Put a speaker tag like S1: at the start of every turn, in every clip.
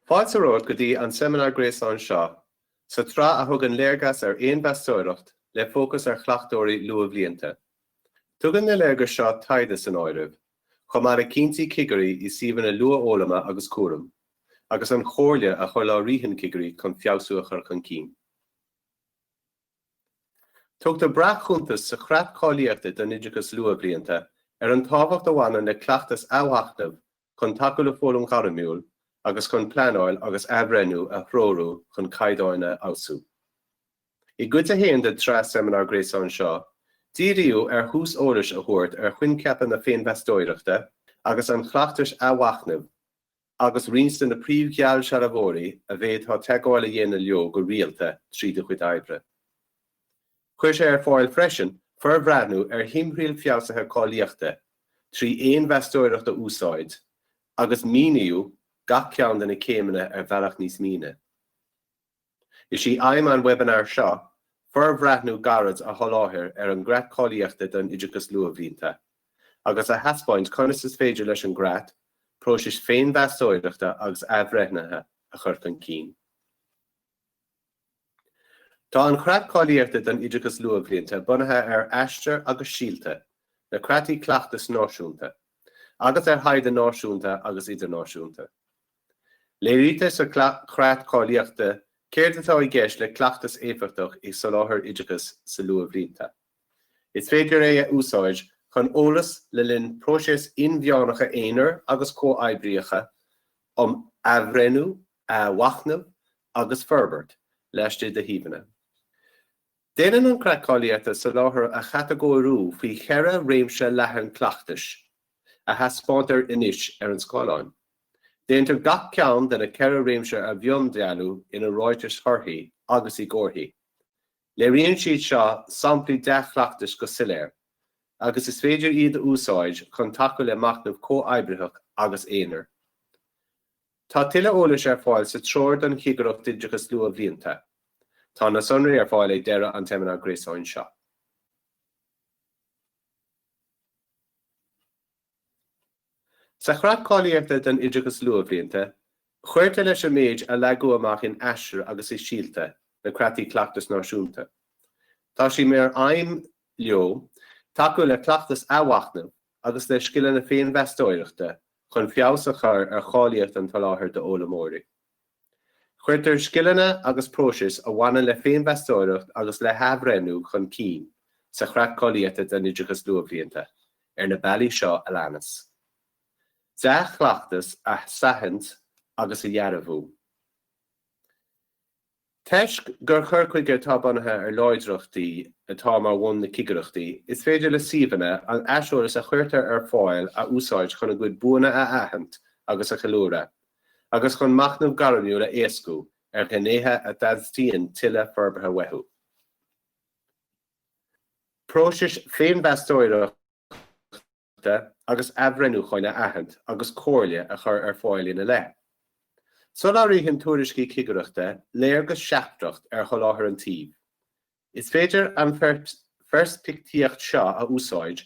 S1: Fáilte romhat go dtí an seimineár gréasáin seo sa tsraith a thugann léargas ar fhéinmheastóireacht le fócas ar chleachtóirí luathbhlianta. Tugann na léargais seo taighde san áireamh, chomh maith le cinntí cigirí i suíomhanna luathfhoghlama agus cúraim. agus an chomhairle a sholáthraíonn cigirí chun feabhsú a chur chun cinn. Tugtar breac-chuntas sa Chreat Cáilíochta don Oideachas Luathbhlianta ar an tábhacht a bhaineann le cleachtas athmhachnaimh chun tacú le foghlaim ghairmiúil agus chun pleanáil agus athbhreithniú a threorú chun caighdeáin a fheabhsú. I gcuid a haon den tsraith seimineár gréasáin seo, díríodh ar thús eolais a thabhairt ar choincheapa na féinmheastóireachta agus an chleachtais athmhachnaimh, agus roinnt de na príomh-gheallsealbhóirí a bhféadfá teagmháil a dhéanamh leo go rialta trí do chuid oibre. Chuir sé ar fáil freisin forbhreathnú ar thimthriall feabhsaithe cáilíochta trí fhéinmheastóireacht a úsáid agus míníodh gach ceann de na céimeanna ar bhealach níos mine. Is í aidhm an webinar seo forbhreathnú gairid a sholáthair ar an gCreat Cáilíochta don Oideachas Luathbhlianta, agus a thaispeáint conas is féidir leis an gCreat próisis féinmheastóireachta agus athbhreithnithe a chur chun cinn. Tá an Creat Cáilíochta don Oideachas Luathbhlianta bunaithe ar Aistear agus Síolta, na Creataí Cleachtais Náisiúnta, agus ar thaighde náisiúnta agus idirnáisiúnta. Léirítear sa Chreat Cáilíochta céard atá i gceist le cleachtas éifeachtach i soláthar oideachais sa luathbhlianta. Is féidir é a úsáid chun eolas le linn próiseas inmheánacha aonair agus comhoibríocha um athbhreithniú, athmhachnamh agus forbairt laistigh de shuíomhanna. Déanann an Creat Cáilíochta soláthar a chatagóiriú faoi cheithre réimse leathan cleachtais. a thaispeántar anois ar an scáileán. Déantar gach ceann de na ceithre réimse a mhiondealú ina ráitis thorthaí agus i gcomharthaí. Léiríonn siad seo samplaí dea-chleachtais go soiléir, agus is féidir iad a úsáid chun tacú le machnamh comhoibritheach agus aonair. Tá tuilleadh eolais ar fáil sa Treoir don Chigireacht Oideachais Luathbhlianta. Tá na sonraí ar fáil ag deireadh an tseimineáir gréasáin seo. Sa Chreat Cáilíochta don Oideachas Luathbhlianta, cuirtear leis an méid a leagadh amach in Aistear agus i Síolta, na Creataí Cleachtais Náisiúnta. Tá sé mar aidhm leo tacú le cleachtas athmhachnaimh agus le scileanna féinmheastóireachta chun feabhas a chur ar cháilíocht an tsoláthair d'fhoghlaimeoirí. Cuirtear scileanna agus próisis a bhaineann le féinmheastóireacht agus le hathbhreithniú chun cinn sa Chreat Cáilíochta don Oideachas Luathbhlianta ar na bealaí seo a leanas, Dea-chleachtas a shainaithint agus a dhearbhú, Toisc gur cur chuige atá bunaithe ar láidreachtaí atá mar bhun na cigireachtaí, is féidir le suíomhanna an t-aiseolas a chuirtear ar fáil a úsáid chun a gcuid buanna a aithint agus a cheiliúradh. agus chun machnamh gairmiúil a éascú ar ghnéithe a dteastaíonn tuilleadh forbartha uathu. Próisis féinmheastóireachta agus athbhreithniúcháin a aithint agus comhairle a chur ar fáil ina leith. Soláthraíonn tuairiscí cigireachta léargas seachtrach ar sholáthar an tsuímh, Is féidir an pheirspictíocht seo a úsáid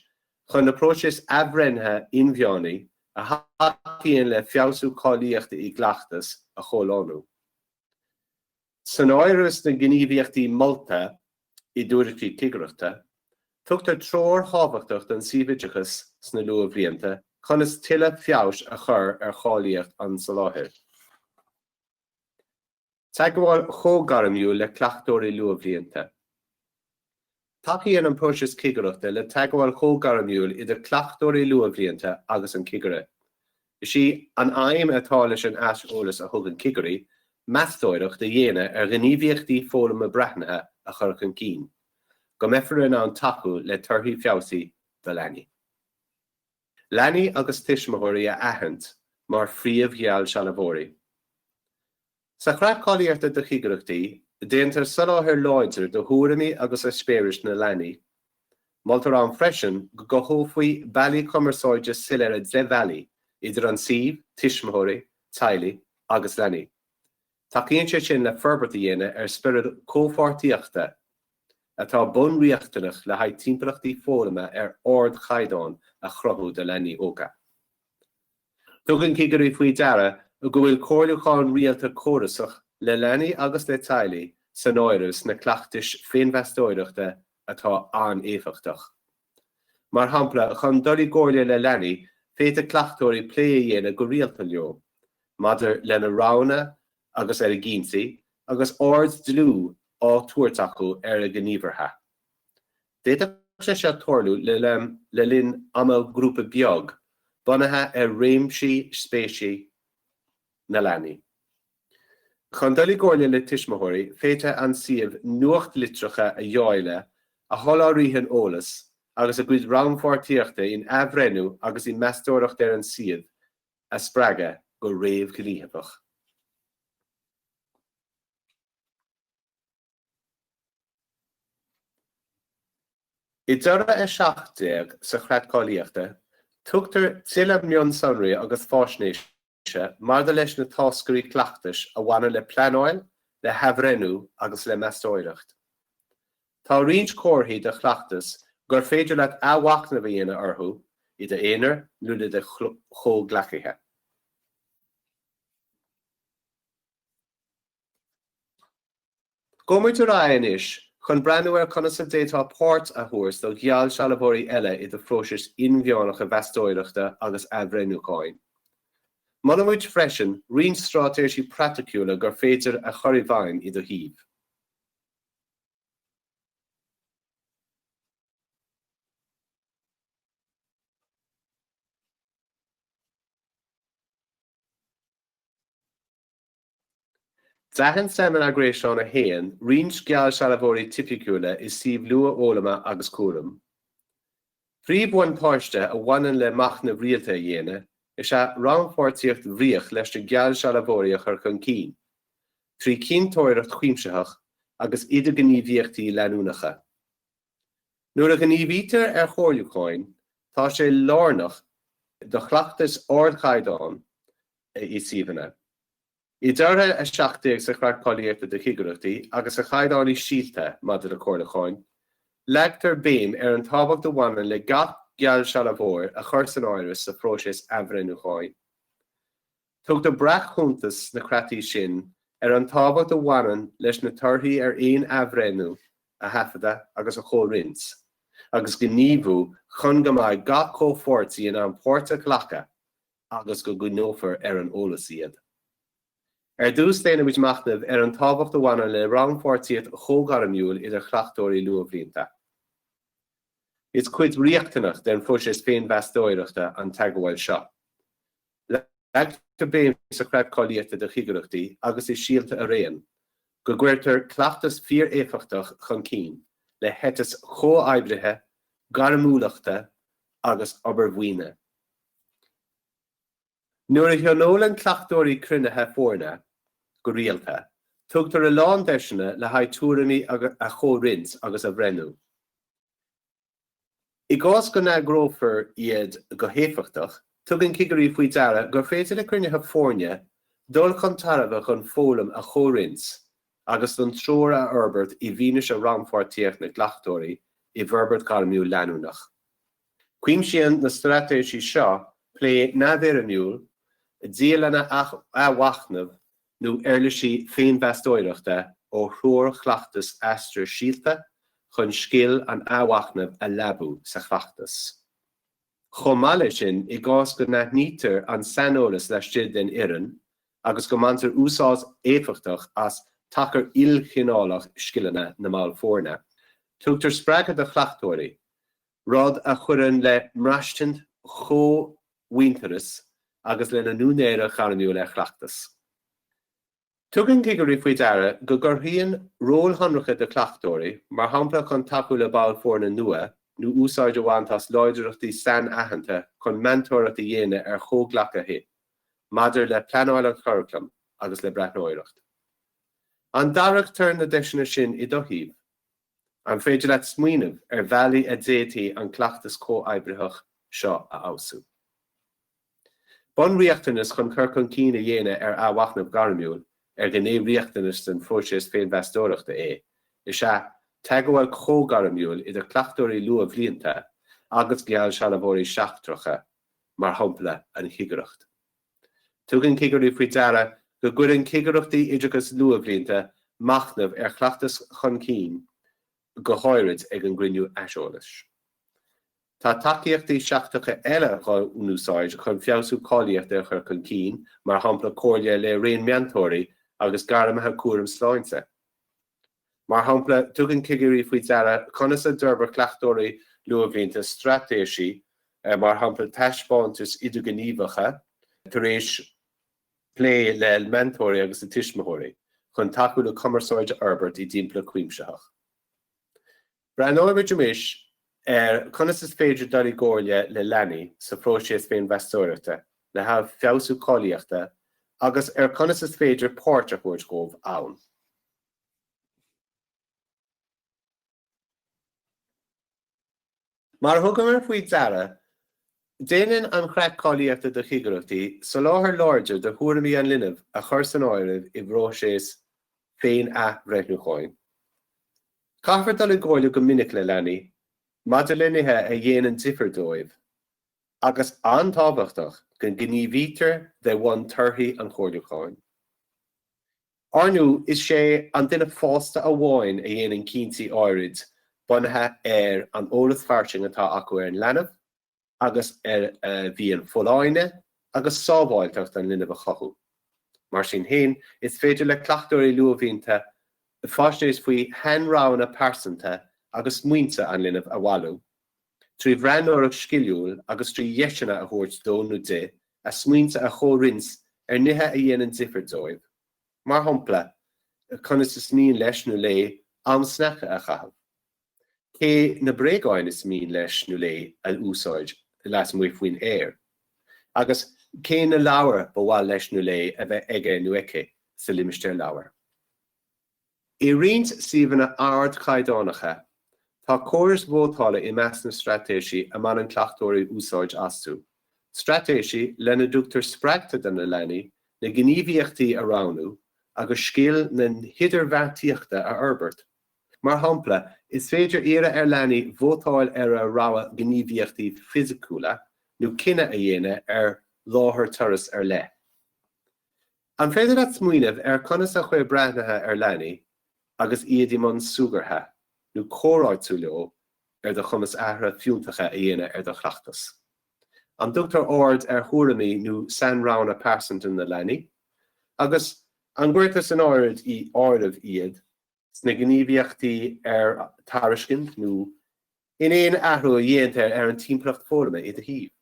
S1: chun na próisis athbhreithnithe inmheánaí a thacaíonn le feabhsú cáilíochta i gcleachtas a chomhlánú. San áireamh sna gníomhaíochtaí molta i dtuairiscí cigireachta, tugtar treoir thábhachtach don suíomh oideachais sna luathbhlianta conas tuilleadh feabhais a chur ar cháilíocht an tsoláthair. Teagmháil chomhghairmiúil le cleachtóirí luathbhlianta. Tacaíonn an próiseas cigireachta le teagmháil chomhghairmiúil idir cleachtóirí luathbhlianta agus an cigire. Is í an aidhm atá leis an aiseolas a thugann cigirí, meastóireacht a dhéanamh ar ghníomhaíochtaí foghlama breathnaithe a chur chun cinn, go mbeifear in ann tacú le torthaí feabhsaí do leanaí. Leanaí agus tuismitheoirí a aithint mar phríomh-gheallsealbhóirí. Sa Chreat Cáilíochta do Chigireachtaí, déantar soláthar láidir do thuairimí agus eispéiris na leanaí. Moltar ann freisin go gcothófaí bealaí cumarsáide soiléire débhealaigh idir an suíomh, tuismitheoirí, teaghlaigh agus leanaí. Tacaíonn sé sin le forbairt a dhéanamh ar spiorad comhpháirtíochta, atá bunriachtanach le haghaidh timpeallachtaí foghlama ar ardchaighdeán a chruthú do leanaí óga. Tugann cigirí faoi deara go bhfuil comhairliúchán rialta córasach le leanaí agus le teaghlaigh san áireamh sna cleachtais féinmheastóireachta atá an-éifeachtach. Mar shampla, chun dul i gcomhairle le leanaí, féadfaidh cleachtóirí plé a dhéanamh go rialta leo maidir lena roghanna agus ar a gcinntí, agus aird dlúth á tabhairt acu ar a ngníomhartha. D'fhéadfadh sé seo tarlú le linn ama grúpa beag, bunaithe ar réimsí spéise. na leanaí. Chun dul i gcomhairle le tuismitheoirí, féadfaidh an suíomh nuachtlitreacha a dháileadh a sholáthraíonn eolas agus a gcuid rannpháirtíochta in athbhreithniú agus i meastóireacht ar an suíomh a spreagadh go réamhghníomhach. I dToradh 17 sa Chreat Cáilíochta, tugtar tuilleadh mionsonraí agus faisnéise maidir leis na táscairí cleachtais a bhaineann le pleanáil, le hathbhreithniú agus le meastóireacht, tá roinnt comharthaí de chleachtas gur féidir leat athmhachnamh a dhéanamh orthu i d'aonar nó le do chomhghleacaithe. Gabhfaidh muid ar aghaidh anois chun breathnú ar conas a d'fhéadfá páirt a thabhairt do gheallsealbhóirí eile i do phróisis inmheánacha mheastóireachta agus athbhreithniúcháin. Molann muid freisin roinnt straitéisí praiticiúla gur féidir a chur i bhfeidhm i do shuíomh. D'aithin Seimineár Gréasáin 1 roinnt geallsealbhóirí tipiciúla i suíomh luathfhoghlama agus cúraim. Príomhbhuntáiste a bhaineann le machnamh rialta a dhéanamh is ea rannpháirtíocht bhríoch leis na geallsealbhóirí a chur chun cinn, trí chinnteoireacht chuimsitheach agus idirghníomhaíochtaí leanúnacha. Nuair a ghníomhaítear ar chomhairliúcháin, tá sé lárnach do chleachtas ardchaighdeáin i suíomhanna. I dToradh 17 sa Chreat Cáilíochta do Chigireachtaí agus sa Chaighdeán i Síolta maidir le Comhairliúcháin, leagtar béim ar an tábhacht a bhaineann le gach geallsealbhóir a chur san áireamh sa phróiseas athbhreithniúcháin. Tugtar breac-chuntas sna creataí sin ar an tábhacht a bhaineann leis na torthaí ar aon athbhreithniú a thaifeadadh agus a chomhroinnt agus gníomhú chun go mbeidh gach comhpháirtí in ann páirt a ghlacadh agus go gcoinneofar ar an eolas iad. Ar dtús, déanaimis machnamh ar an tábhacht a bhaineann le rannpháirtíocht chomhghairmiúil idir chleachtóirí luathbhlianta. Is cuid riachtanach den phróiseas féinmheastóireachta an teagmháil seo. Leagtar béim sa Chreat Cáilíochta do Chigireachtaí agus i Síolta araon go gcuirtear cleachtas fíor-éifeachtach chun cinn le heiteas comhoibrithe, gairmiúlachta agus obair bhuíne. Nuair a thionólann cleachtóirí cruinnithe foirne go rialta, tugtar a lán deiseanna le haghaidh tuairimí a chomhroinnt agus a bhreithniú. I gcás go n-eagrófar iad go héifeachtach, tugann cigirí faoi deara gur féidir le cruinnithe foirne dul chun tairbhe chun foghlaim a chomhroinnt agus don treoir a fhorbairt i bhfianaise rannpháirtíocht na gcleachtóirí i bhforbairt gairmiúil leanúnach. Cuimsíonn na straitéisí seo plé neamhfhoirmiúil, dialanna athmhachnaimh nó uirlisí féinmheastóireachta ó threoir chleachtais Aistear Síolta chun scil an athmhachnaimh a leabú sa chleachtas. Chomh maith leis sin, i gcás go n-aithnítear an saineolas laistigh den fhoireann agus go mbaintear úsáid éifeachtach as tacar ilchineálach scileanna na mball foirne, tugtar spreagadh do chleachtóirí, rud a chuireann le mbraistint chomhuintearais agus lena n-úinéireacht ghairmiúil ar chleachtas. Tugann cigirí faoi deara go gcruthaíonn róil shonracha do chleachtóirí, mar shampla chun tacú le ball foirne nua nó úsáid a bhaint as láidreachtaí sainaitheanta chun meantóireacht a dhéanamh ar chomhghleacaithe maidir le pleanáil an churaclaim agus le breathnóireacht. An dtairgtear na deiseanna sin i do thaobh? An féidir leat smaoineamh ar bhealaí a dféadtaí an cleachtas comhoibritheach seo a fheabhsú? Bunriachtanas chun cur chun cinn a dhéanamh ar athmhachnamh gairmiúil, ar ghné riachtanach den phróiseas féinmheastóireachta é, is ea teagmháil chomhghairmiúil idir cleachtóirí luathbhlianta agus geallsealbhóirí seachtracha, mar shampla an chigireacht. Tugann cigirí faoi deara go gcuireann cigireachtaí oideachais luathbhlianta machnamh ar chleachtas chun cinn, go háirid ag an gcruinniú aiseolais. Tá tacaíochtaí seachtracha eile dhá n-úsáid chun feabhsú cáilíochta a chur chun cinn, mar shampla comhairle le raon meantóirí agus gairmithe cúraim sláinte. Mar shampla, tugann cigirí faoi deara conas a d'fhorbair cleachtóirí luathbhlianta straitéisí, mar shampla taispeántais idirghníomhacha tar éis plé le meantóirí agus le tuismitheoirí, chun tacú le cumarsáid a fhorbairt i dtimpeallacht chuimsitheach. Breathnóidh muid anois ar conas is féidir dul i gcomhairle le leanaí sa phróiseas féinmheastóireachta le haghaidh feabhsú cáilíochta agus ar conas is féidir páirt a thabhairt dhóibh ann. Mar thugamar faoi deara, déanann an chreat cáilíochta do chigireachtaí soláthar láidir do thuairimí an linbh a chur san áireamh i bpróiseas féin-athbhreithniúcháin. Caithfear dul i gcomhairle go minic le leanaí maidir le nithe a dhéanann difear dóibh agus an-tábhachtach go ngníomhaítear de bhun torthaí an chomhairliúcháin. Ar ndóigh is sé an duine fásta amháin a dhéanann cinntí áirid bunaithe ar an eolas fairsing atá acu ar an leanbh, agus ar mhian folláine agus sábháilteacht an linbh a chothú. Mar sin féin, is féidir le cleachtóirí luathbhlianta faisnéis faoi shainroghanna pearsanta agus smaointe an linbh a bhailiú, trí bhreathnóireacht sciliúil agus trí dheiseanna a thabhairt dó nó di a smaointe a chomhroinnt ar nithe a dhéanann difear dóibh, mar shampla, conas is mian leis nó léi am sneaiceanna a chaitheamh. Cé na bréagáin is mian leis nó léi a úsáid lasmuigh faoin aer? Agus cé na leabhair ab áil leis nó léi a bheith aige nó aici sa limistéar leabhar? I roinnt suíomhanna ardchaighdeánacha, tá córais vótála i measc na straitéisí a mbaineann cleachtóirí úsáid astu, straitéisí lena dtugtar spreagtha do na leanaí na gníomhaíochtaí a roghnú agus scil na hidirbheartaíochta a fhorbairt. Mar shampla, is féidir iarraidh ar leanaí vótáil ar a rogha gníomhaíochtaí fisiciúla nó cinneadh a dhéanamh ar láthair turas ar leith. An féidir leat smaoineamh ar conas a chuir breathnuithe ar leanaí agus iad i mbun súgartha nó comhráití leo ar do chumas athruithe fiúntacha a dhéanamh ar do chleachtas? An dtugtar aird ar thuairimí nó sainroghanna pearsanta na leanaí, agus an gcuirtear san áireamh iad? sna gníomhaíochtaí ar tairiscint nó in aon athrú a dhéantar ar an timpeallacht foghlama i do shuíomh.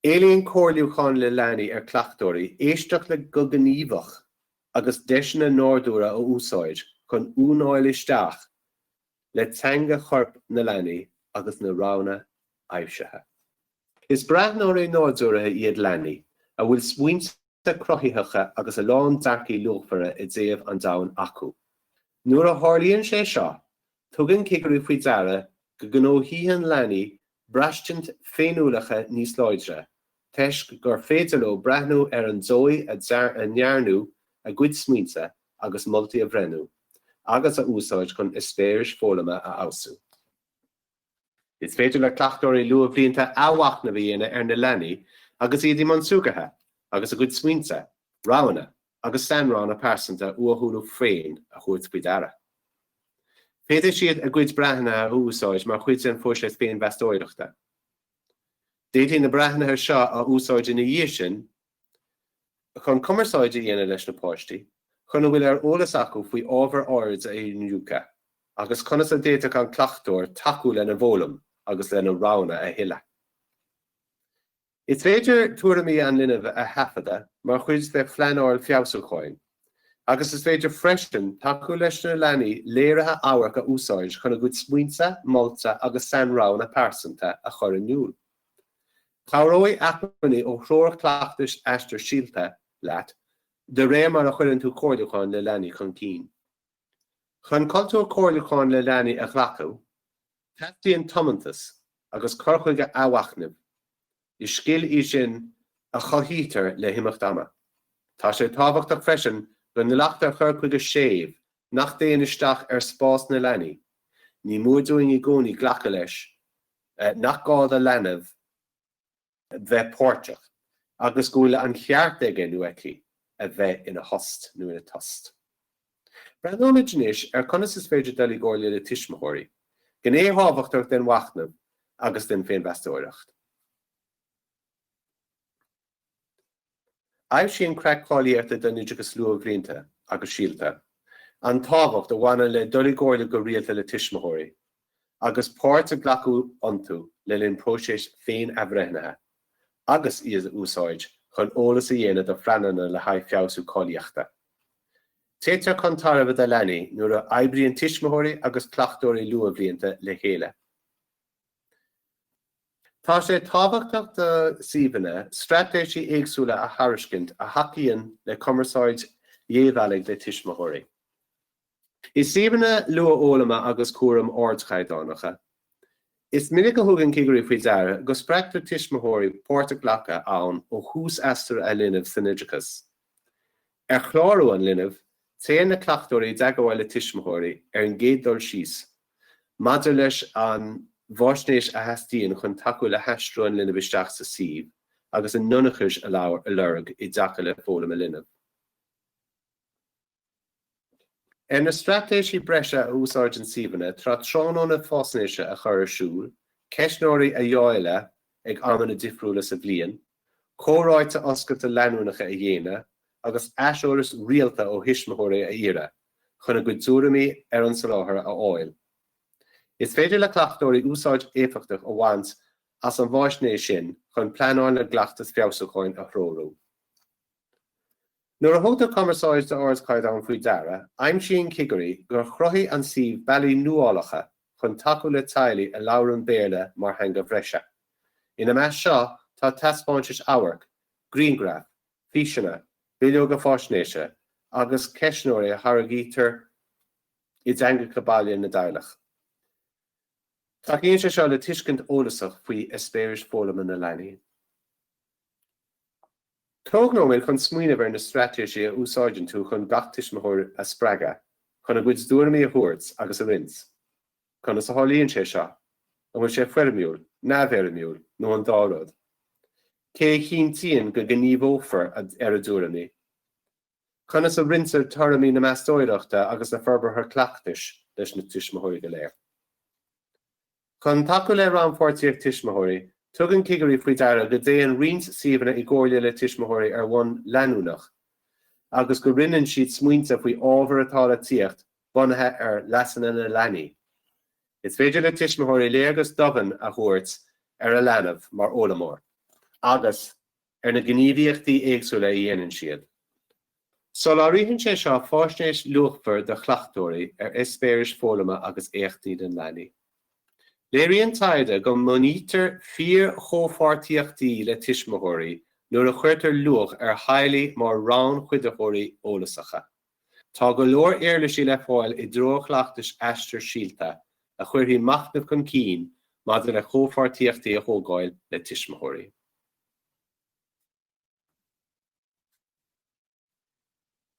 S1: Éilíonn comhairliúchán le leanaí ar cleachtóirí éisteacht leo go gníomhach agus deiseanna nádúrtha a úsáid chun tiúnáil isteach le teanga choirp na leanaí agus na roghanna aibhsithe. Is breathnóirí nádúrtha iad leanaí, a bhfuil smaointe cruthaitheacha agus a lán dearcaí luachmhara i dtaobh an domhain acu. Nuair a tharlaíonn sé seo, tugann cigirí faoi deara go ngnóthaíonn leanaí braistint féiniúlacha níos láidre, toisc gur féidir leo breathnú ar an dóigh a ndearnadh a gcuid smaointe agus moltaí a bhreithniú agus a úsáid chun eispéiris foghlama a fheabhsú. Is féidir le cleachtóirí luathbhlianta athmhachnamh a dhéanamh ar na leanaí agus iad i mbun súgartha agus a gcuid smaointe, roghanna agus sainroghanna pearsanta uathúla féin a thabhairt faoi deara. Féadfaidh siad a gcuid breathnuithe a úsáid mar chuid den phróiseas féinmheastóireachta. D'fhéadfaí na breathnuithe seo a úsáid ina dhiaidh sin chun cumarsáid a dhéanamh leis na páistí, chun a bhfuil ar eolas acu faoi ábhar áirid a iniúchadh, agus conas a d'fhéadfadh an cleachtóir tacú lena bhfoghlaim agus lena roghanna a thuilleadh. Is féidir tuairimí an linbh a thaifeadadh mar chuid de phleanáil feabhsúcháin, agus is féidir freisin tacú leis na leanaí léirithe amhairc a úsáid chun a gcuid smaointe, molta agus sainroghanna pearsanta a chur in iúl. Cabhróidh acmhainní ó Threoir Cleachtais Aistear Síolta leat de réir mar a chuireann tú comhairliúchán le leanaí chun cinn. Chun cultúr comhairliúcháin le leanaí a ghlacadh, teastaíonn tiomantas agus cur chuige athmhachnaimh. Is scil í sin a chothaítear le himeacht ama. Tá sé tábhachtach freisin go nglactar cur chuige séimh nach dtéann isteach ar spás na leanaí, ní mór dúinn i gcónaí glacadh leis nach gá do leanbh bheith páirteach agus go bhfuil an cheart aige nó aici a bheith ina thost nó ina tost. Breathnóimid anois ar conas is féidir dul i gcomhairle le tuismitheoirí, gné thábhachtach den mhachnamh agus den féinmheastóireacht. Aibhsíonn Creat Cáilíochta don Oideachas Luathbhlianta agus Síolta an tábhacht a bhaineann le dul i gcomhairle go rialta le tuismitheoirí agus páirt a ghlacadh iontu le linn próiseas féin-athbhreithnithe agus iad a úsáid chun eolas a dhéanamh do phleananna le haghaidh feabhsú cáilíochta. Téitear chun tairbhe do leanaí nuair a oibríonn tuismitheoirí agus cleachtóirí luathbhlianta le chéile. Tá sé tábhachtach do suíomhanna straitéisí éagsúla a thairiscint a thacaíonn le cumarsáid dhébhealaigh le tuismitheoirí. I suíomhanna luathfhoghlama agus cúraim ardchaighdeánacha, is minic a thugann cigirí faoi deara go spreagtar tuismitheoirí páirt a ghlacadh ann ó thús aistir a linbh san oideachas. Ar chlárú an linbh, téann na cleachtóirí i dteagmháil le tuismitheoirí ar an gcéad dul síos, maidir leis an bhfaisnéis a theastaíonn chun tacú le haistriú an linbh isteach sa suíomh agus a n-ionchais a lorg i dtaca le foghlaim a linbh. Ar na straitéisí breise a úsáideann suíomhanna tá tráthnóna faisnéise a chur ar siúl, ceistneoirí a dháileadh ag amanna difriúla sa bhliain, comhráite oscailte leanúnacha a dhéanamh agus aiseolas rialta ó thuismitheoirí a iarraidh chun a gcuid tuairimí ar an soláthar a fháil. Is féidir le cleachtóirí úsáid éifeachtach a bhaint as an bhfaisnéis sin chun pleanáil le gcleachtas feabhsúcháin a threorú. Nuair a thugtar cumarsáid d'ardchaighdeán faoi deara, aimsíonn cigirí gur chruthaigh an suíomh bealaí nuálacha chun tacú le teaghlaigh a labhrann Béarla mar theanga bhreise. Ina measc seo tá taispeáintais amhairc, grianghraif, físeanna, bileoga faisnéise agus ceistneoirí a tháirgítear i dteangacha baile na dteaghlach. Tacaíonn sé seo le tuiscint eolasach faoi eispéiris foghlama na leanaí. Tóg nóiméad chun smaoineamh ar na straitéisí a úsáideann tú chun gach tuismitheoir a spreagadh chun a gcuid dtuairimí a thabhairt agus a roinnt. Conas a tharlaíonn sé seo? An bhfuil sé foirmiúil, neamhfhoirmiúil nó an dá rud? Cé a chinntíonn go ngníomhófar ar a dtuairimí? Conas a roinntear tuairimí na meastóireachta agus na forbartha cleachtais leis na tuismitheoirí go léir? Chun tacú le rannpháirtíocht tuismitheoirí, tugann cigirí faoi deara go dtéann roinnt suíomhanna i gcomhairle le tuismitheoirí ar bhonn leanúnach agus go roinneann siad smaointe faoi ábhair atá le tíocht bunaithe ar leasanna na leanaí. Is féidir le tuismitheoirí léargas domhain a thabhairt ar a leanbh mar fhoghlaimeoir agus, ar na gníomhaíochtaí éagsúla a dhéanann siad. Soláthraíonn sé seo faisnéis luachmhar do chleachtóirí ar eispéiris foghlama agus éachtaí den leanaí. Léiríonn taighde go mbunaítear fíorchomhpháirtíochtaí le tuismitheoirí nuair a chuirtear luach ar theaghlaigh mar rannchuiditheoirí eolasacha. Tá go leor uirlisí le fáil i dTreoir Chleachtais Aistear Síolta a chuirfidh machnamh chun cinn maidir le comhpháirtíochtaí a thógáil le tuismitheoirí.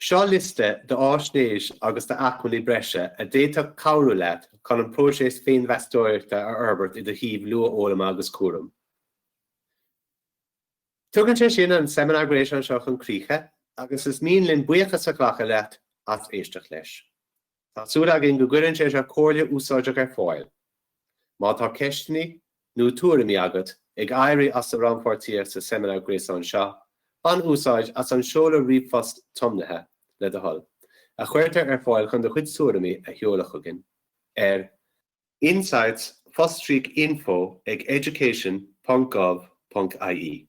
S1: Seo liosta d'fhaisnéis agus d'acmhainní breise a d'fhéadfadh cabhrú leat chun an próiseas féinmheastóireachta a fhorbairt i do shuíomh luathfhoghlama agus cúraim. Tugann sé sin an seimineár gréasáin seo chun críche agus is mian linn buíochas a ghlacadh leat as éisteacht leis. Tá súil againn go gcuireann sé seo comhairle úsáideach ar fáil. Má tá ceisteanna nó tuairimí agat ag éirí as do rannpháirtíocht sa seimineár gréasáin seo, bain úsáid as an seoladh ríomhphoist tiomnaithe, le do thoil, a chuirtear ar fáil chun do chuid tuairimí a sheoladh chugainn ar insights fostríoc info ag education.gov.ie.